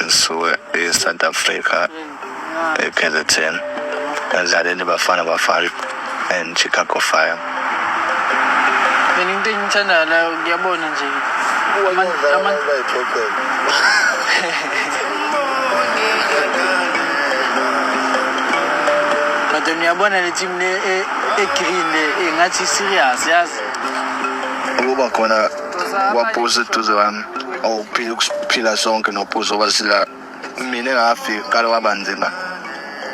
ngisuke e-south africa e-kzn ngadlalela ibafana bafana and chicago fire mina into engithandayo la ngiyabona nje but niyabona le team le e-green e, e, le engathi serious yazi ukuba khona kwabhuza eduze wami awuphila ukuphila sonke nobhuza obasila mina engafika kale waba nzima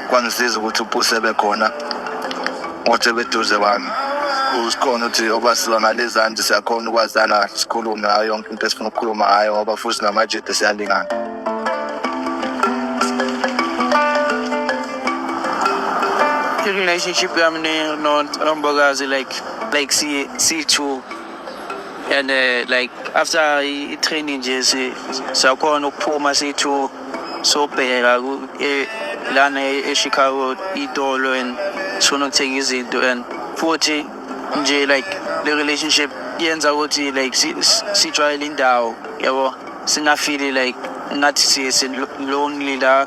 kwangisiza ukuthi ubhusa ebekhona othi ebeduze wami usikhona ukuthi obasiwa ngalezanti siyakhona ukwazana sikhulume ngayo yonke into esifuna ukukhuluma ngayo ngoba futhi namajede siyalingana relationship yami nombokazi like like si si-two and uh, like after i-training nje siyakhona ukuphuma siyi-two sobheka e, lana e, e-chicago itolo and sifuna ukuthenga izinto and futhi nje like le relationship yenza ukuthi like sijwayele indawo yabo singafili like ngathi lonely la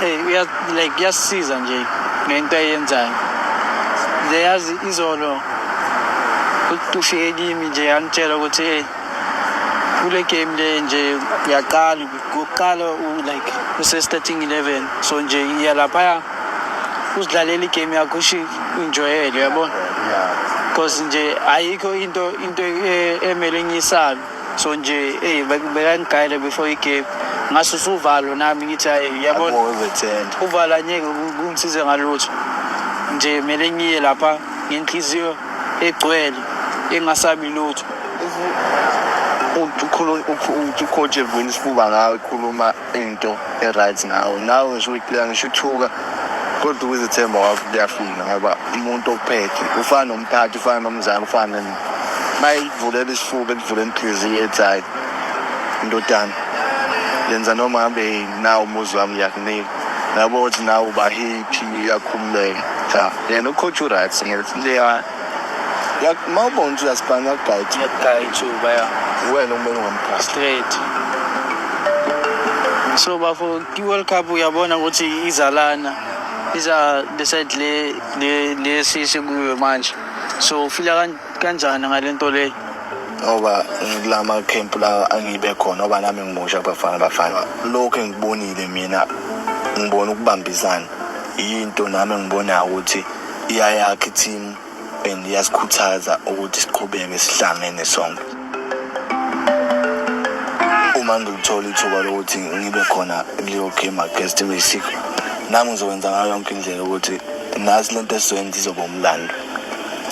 Hey, uya like kuyasiza nje ngento ayenzayo. Nje yazi izolo ufike kimi nje yangitshela ukuthi hey kule game le nje yaqala kuqala like use starting 11 so nje iya lapha usidlalela igame yakho ushi enjoyele yabona because nje ayikho into into eh, emele ngiyisabe so nje eyi bekangigayele before igame ngase usuvalo nami ngithi hayi yabona uvala ngeke kungisize ngalutho nje kumele ngiye lapha ngenhliziyo egcwele engasabi lutho ucoach evula isifuba ngawe khuluma into e-right ngawe nawe ngisho uyiclear ngisho uthuka kodwa ukuzethemba wakho kuyafuna ngoba umuntu ophethe ufana nomphathi ufana nomzali ufana mayivulele isifuba elivule inhliziyo ethi hayi ndodana yenza noma hambe nawo umuzi wami ngiyakunika nabo ukuthi nawe uba happy uyakhululeka cha yena ucoach uright ngileya uma ubona ukuthi uyasibhanga yakugayitha yakugayitha uba ya wena uma ungamphasi straight so bafo i-world cup uyabona ukuthi izalana iza le side le le le sisi kuyo manje So ufila kan- kanjani ngale nto leyo? ngoba ngikula makhempu la angibe khona ngoba nami ngimusha kubafana bafana lokhu engikubonile mina ngibona ukubambisana yinto nami engibonayo ukuthi iyayakha i-team and iyasikhuthaza ukuthi siqhubeke sihlangene sonke uma ngilithola ithuba lokuthi ngibe khona kuleyo game against imexico nami ngizokwenza ngayo yonke indlela ukuthi nazi le nto esizoyenza izoba umlando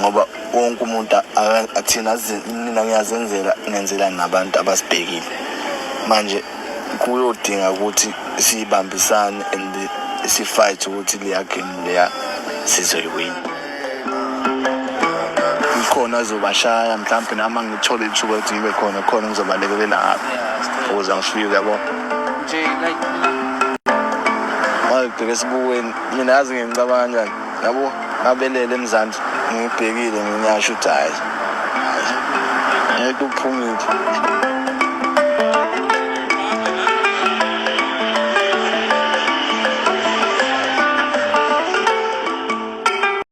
ngoba wonke umuntu athina mina ngiyazenzela ngenzela nabantu abasibhekile manje kuyodinga ukuthi sibambisane and sifight ukuthi leya game leya sizoyiwina khona azobashaya mhlawumbe nami angithole ithuba ukuthi ngibe khona khona ngizobalekelela ngapha ukuze angifike uyabo nje like ngibheke esibukweni mina yazi ngicabanga kanjani yabo ngabelele emzansi ngibhekile nginyasho ukuthi hayi ngeke uphumile